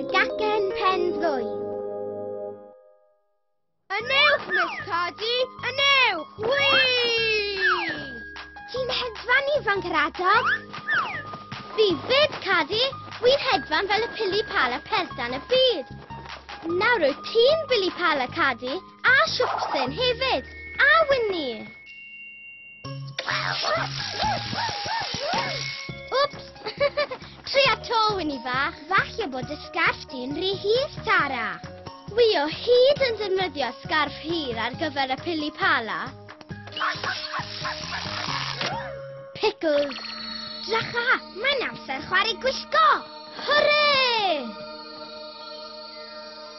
Y gacen pen ddwy. Yn ewch, Miss Cardi! Yn ewch! Wii! Ti'n hedfan ifanc yr adog? Fi fyd, Cardi! Wi'n hedfan fel y pili pal a peltan y byd. Nawr wyt ti'n bili pal a cadi a siwpsen hefyd, a Winnie! Wps! Tri a to, Winnie fach. Falle bod y sgarf di'n rhy hir, Tara. Wi o hyd yn defnyddio sgarf hir ar gyfer y pili pala. Pickles! Dracha, mae'n amser chwarae gwisgo! Hwrê!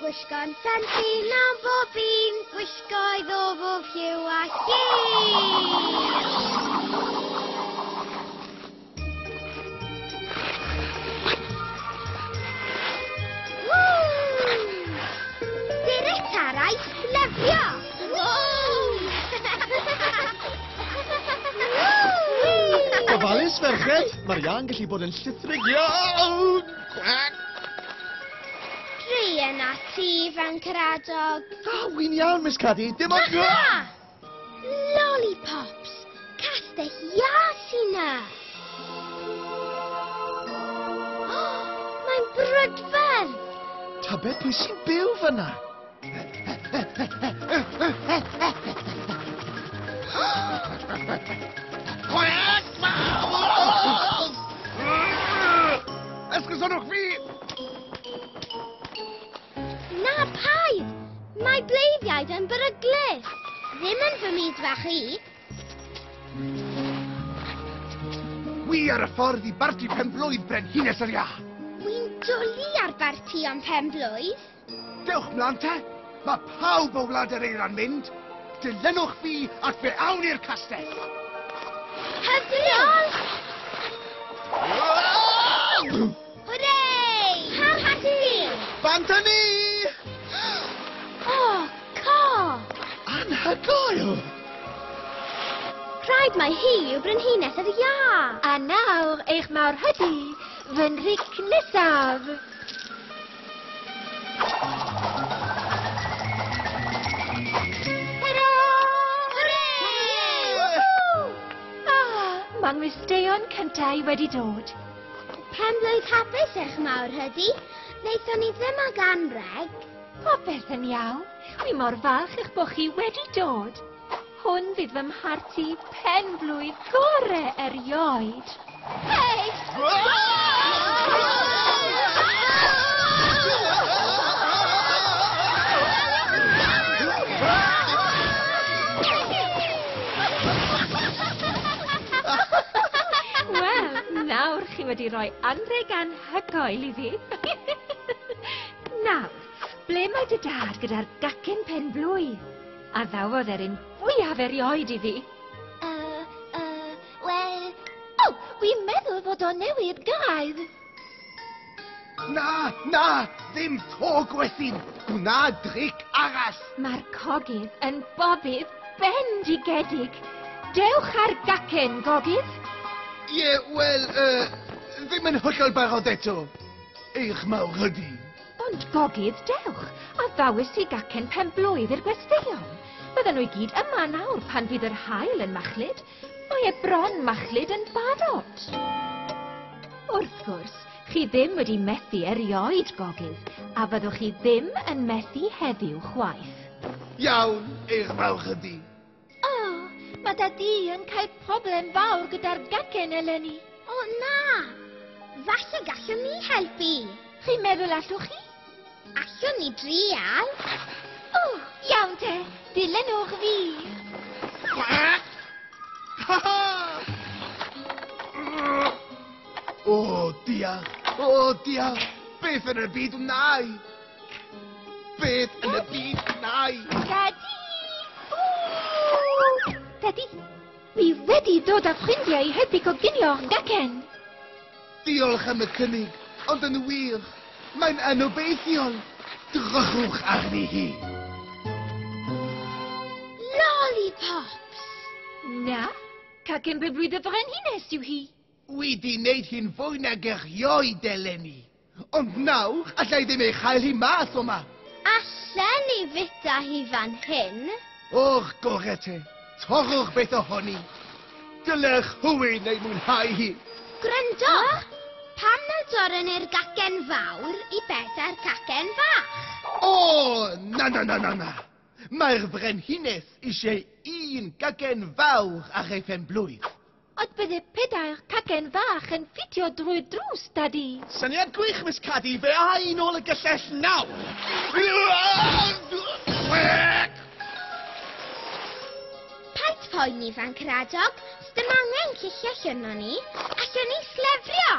Gwisgo'n ffansi mewn bob un, gwisgoedd o bob lliw a Gofalus, ferched! Mae'r iâ'n gallu bod yn llithrig iawn! Cwac! Dwi yna ti, fan Caradog. Da, wy'n iawn, Miss Caddy. Dim ond... Aha! Lollipops! Castell Ia sy'n na! Oh, mae'n brydferth! Tybed pwy sy'n byw fyna? Ysgysonwch fi! Na, paid! Mae bleiddiaid yn beryglus. Ddim yn fy myd fach i. Wi ar y ffordd i barti penblwydd Brenhines yr Ia. Wi'n dwlu ar barti am penblwydd. Dewch mlan te! Mae pawb o Wlad yr Eira'n mynd! Dilynwch fi ac fe awn i'r castell! Heb ddiolch! Hwre! Parhad i! Bant â ni! O, co! Anhygoel! Rhaid mai hi yw Brenhines yr Iâ! A nawr eich mawr hydi, fy nhric nesaf! Gwesteion cyntau wedi dod. Penblwydd hapus eich mawr hydi. Wnaethon ni ddim ag anreg. Popeth yn iawn. Wi mor falch eich bod chi wedi dod. Hwn fydd fy mharti pen-blwydd gore erioed! Hei! chi wedi rhoi anrheg anhygoel i fi. Nawr, ble mae dy dad gyda'r gacen pen blwydd? Addaw oedd erin fwyaf erioed iddi. Uh, uh, wel... O, oh, wi'n meddwl fod o newid gair. Na, na, ddim to gwethyn. Gwna dric arall. Mae'r cogydd yn bobydd bendigedig. Dewch ar gacen, gogydd. Ie, yeah, wel, uh, ddim yn hollol barod eto. Eich mawr ydi. Ond gogydd dewch, addawis i gacen pen-blwydd i'r gwesteion. Bydden nhw i gyd yma nawr pan fydd yr haul yn machlud. Mae e bron machlud yn barod. Wrth gwrs, chi ddim wedi methu erioed, gogydd, a fyddwch chi ddim yn methu heddiw chwaith. Iawn, eich falch ydi. O! Mae dy di yn cael problem fawr gyda'r gacen eleni. O na! Falle gallwn ni helpu. Chi'n meddwl allwch chi? Allwn ni drial. O! Iawn te! Dilynwch fi! O, diolch! O, diolch! Beth yn y byd wnai? Beth yn y byd wnai? Daddy! Ww! Daddy, fi wedi dod â ffrindiau i helpu coginio'r gacen. Diolch am y cynnig, ond yn wir, mae'n anobeithiol. Drychwch arni hi. Lollipops! Na, cacen bebwyd y frenhines yw hi. Wi di neud hi'n fwy nag erioed eleni. Ond naw, alla i ddim ei chael hi mas o 'ma! Allen i fita hi fan hyn? Och, gore te! Torrwch beth ohoni! Dylech hywyn ei mwynhau hi! Gwrandwch! Pam na dorren ni'r gacen fawr i beth â'r cacen fach? O! Na, na, na, na, na! Mae'r Frenhines eisiau un gacen fawr ar ei phen-blwydd. Ond bydde pedair cacen fach yn ffitio drwy'r drws, Dadi! Syniad gwych, Miss Caddy. Fe a i nôl y gyllell nawr! Paid phoeni, Fancr Adog. Sdim angen cyllell arnon ni. Allwn ni slefrio!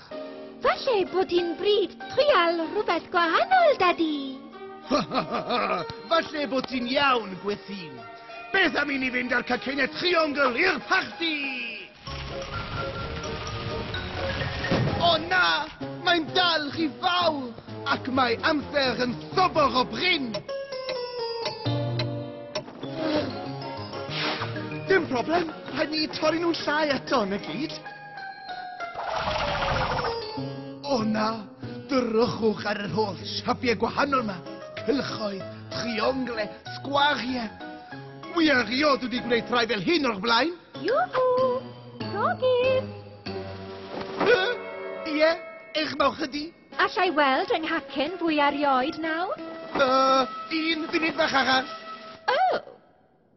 Falle bod hi'n bryd trial rhywbeth gwahanol, Daddy! Ha ha ha ha! Falle bod ti'n iawn, Gwethîn! Beth am i ni fynd â'r caceiniau triongl i'r parti! O na! Mae'n dal rhy fawr! Ac mae amser yn sobor o brin! Dim problem, rhaid ni torri nhw'n llai eto, na gyd? O na, drychwch ar yr holl siapiau gwahanol yma. Cylchoedd, trionglau, sgwariau. Wi erioed wedi gwneud rhai fel hyn o'r blaen. Iwhw! Gogis! Ie, eich mawch ydi. Allai weld yng nghacen fwy arioed nawr? Uh, un funud fach arall.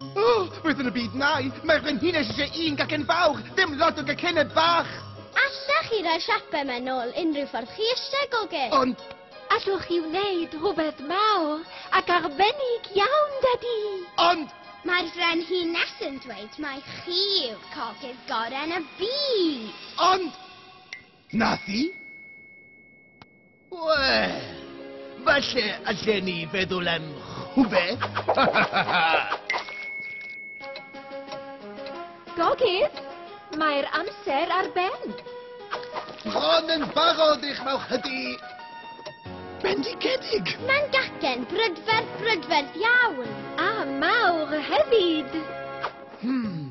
O! Beth yn y byd mae? Mae'r frenhines eisiau un gacen fawr, dim lot o gacenau bach! Allech chi roi siape yma nôl unrhyw ffordd chi eisiau, goge? Ond... Allwch chi wneud rhywbeth mawr ac arbennig iawn, Dadi! Ond... Mae'r frenhines yn dweud mai chi yw'r cogydd gorau yn y byd! Ond... Nath hi? Wel, falle allen ni feddwl am rhywbeth. Gogydd, mae'r amser ar ben. Bron yn barod eich mawch hydi. Bendigedig! Mae'n gacen brydferth brydferth iawn. A mawr hefyd. Hmm.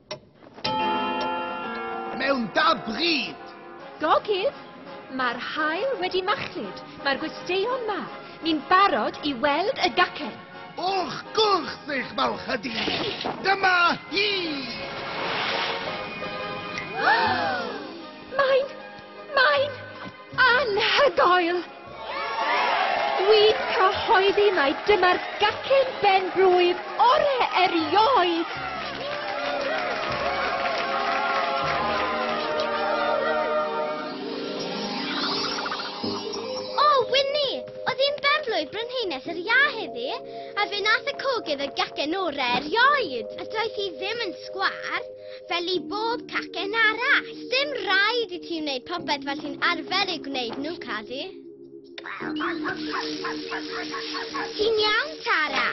Mewn da bryd! Gogydd! Mae'r haul wedi machlud, mae'r gwesteion ma, ni'n barod i weld y gacen! O'ch gwrth eich malchady! Dyma hi! Mae'n... mae'n... Anhygoel! Dwi'n cyhoeddi mai dyma'r gacen ben-blwydd ore erioed! O, Wini! Oedd hi'n ben-blwydd Brenhines yr Iâ heddi, a fe nath y cogydd y gacen ore erioed! A doedd hi ddim yn sgwâr! fel i bob cacen arall. Dim rhaid i ti wneud popeth fel ti'n arfer ei gwneud nhw, Cadi. Ti'n iawn, Tara?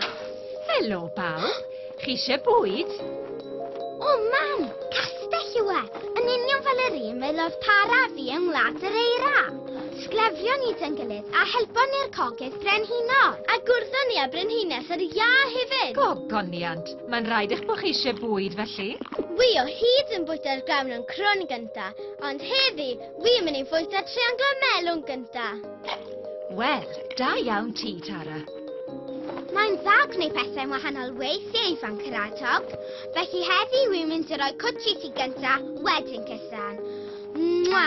Helo, bawb. Chi eisiau bwyd? O, mam! Castell yw e! Yn union fel yr un fel oedd Tara a fi yng Ngwlad yr Eira. Sglefrio ni dyn gilydd a helpon ni'r cogydd brenhino. A gwrddon ni â brenhines yr iâ hefyd. Gogoniant! Mae'n rhaid eich bod chi eisiau bwyd, felly? Wi o hyd yn bwyta'r grawn yn crwn gynta, ond heddi, wi yn mynd i fwyta trianglo melwn gynta. Wel, da iawn ti, Tara. Mae'n dda gwneud pethau'n wahanol weithiau i fan Cyradog, felly heddi wi'n mynd i roi cwtshi ti gynta, wedyn cysan. Mwa!